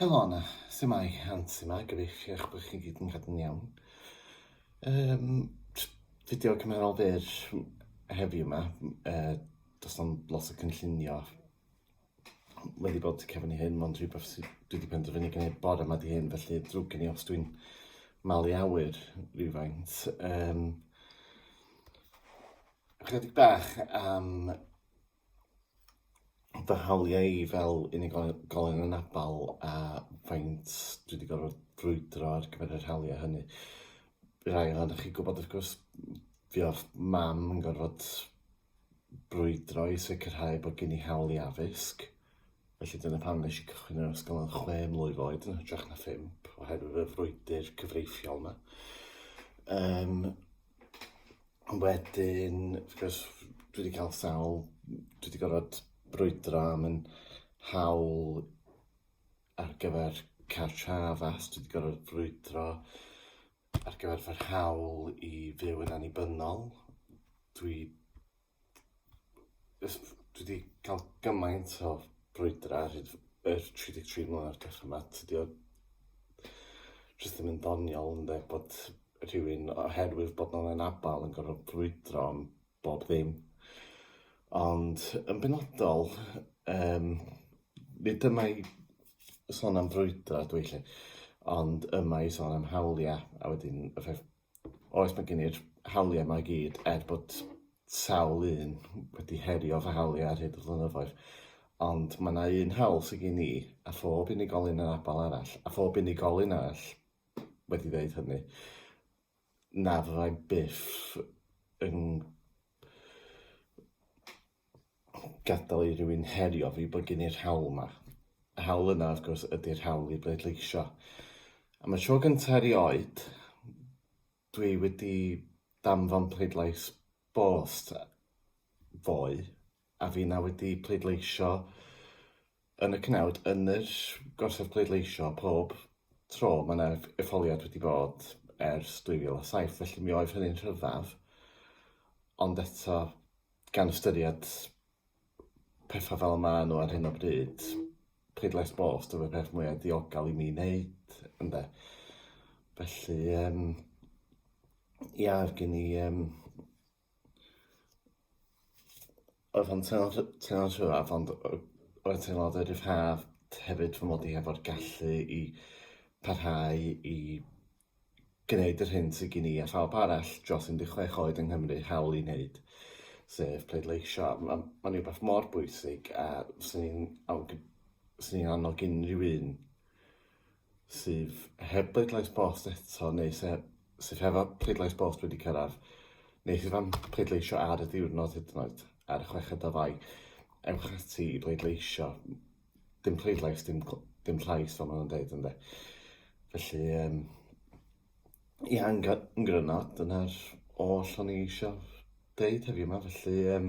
Helo Anna, su'mai? Ansi 'ma, gobeithio eich bod chi'n gyd yn cadw'n iawn. Yym js fideo cymharol byr heddiw 'ma yy do's na'm lot o cynllunio wedi bod tu cefn i hyn mond rhywbeth sy dwi 'di penderfynu gneud bore 'ma 'di hyn felly ddrwg gen i os dwi'n malu awyr rywfaint yym ychydig bach am fy hawliau i fel unigolyn anabl a faint dwi wedi gorfod brwydro ar gyfer yr hawliau hynny. Bydd rhai ohonoch chi gwybod wrth gwrs fi o'r mam yn gorfod brwydro i sicrhau bod gen i hawl i addysg, felly dyna pam nes i cychwyn yr ysgol yn chwe mlwydd oed yn hytrach na phump, oherwydd y frwydr cyfreithiol 'na. Yym. Ond wedyn, wrth gwrs, dwi 'di cael sawl... dwi 'di gorfod brwydro am yn hawl ar gyfer cartref a dwi 'di gorfod brwydro ar gyfer fy hawl i fyw yn annibynnol. Dwi... dwi 'di ca'l gymaint o brwydra ar hyd yr tri deg tri mlynadd dwetha 'ma tydi o jyst ddim yn ddoniol ynde bod rhywun oherwydd bod nw'n anabal yn gorfod brwydro am bob ddim ond yn benodol yym nid dyma i sôn am frwydro ydw i 'lly ond yma i sôn am hawlia' a wedyn y rhai Oes, mae gen i'r hawliau mae gyd, er bod sawl un wedi herio fy hawliau ar hyd y flynyddoedd. Ond mae yna un hawl sy'n gen i, a phob unigolyn yn abal arall, a phob unigolyn arall wedi dweud hynny, na fyddai byth yn gadael i rywun herio fi bod gen i'r hawl 'ma. Y hawl yna, wrth gwrs, ydy'r hawl i bleidleisio. Am y tro gyntaf erioed, dwi wedi danfon pleidlais bost ddoe, a finna wedi pleidleisio yn y cnawd yn yr gorsaf pleidleisio pob tro mae yna etholiad wedi bod ers 2007 felly mi oedd hynny'n rhyfedd ond eto gan ystyried pethau fel maen nhw ar hyn o bryd pleidlais bost oedd y peth mwyaf diogel i mi wneud ynde felly yym ia oedd gen i yym Oedd o'n teimlo'n rhy- teimlo'n rhyw fath ond yy oedd o'n teimlo fel rhyddhad hefyd fy mod i hefo'r gallu i parhau i gneud yr hyn sy gin i a phawb arall dros 16 oed yng Nghymru hawl i wneud, sef pleidleisio. Ma' ma'n rywbeth mor bwysig a fyswn i'n awg- fyswn i'n annog unrhyw un sydd heb bleidlais bost eto neu se- sydd hefo pleidlais bost wedi cyrraedd, neu sydd am pleidleisio ar y diwrnod hyd yn oed, ar y chweched o Fai, ewch ati i bleidleisio. Dim pleidlais, dim cl- dim llais fel ma' nhw'n deud ynde. Felly yym ie yn gry- yn gryno dyna'r oll o'n i isio deud heddiw 'ma felly yym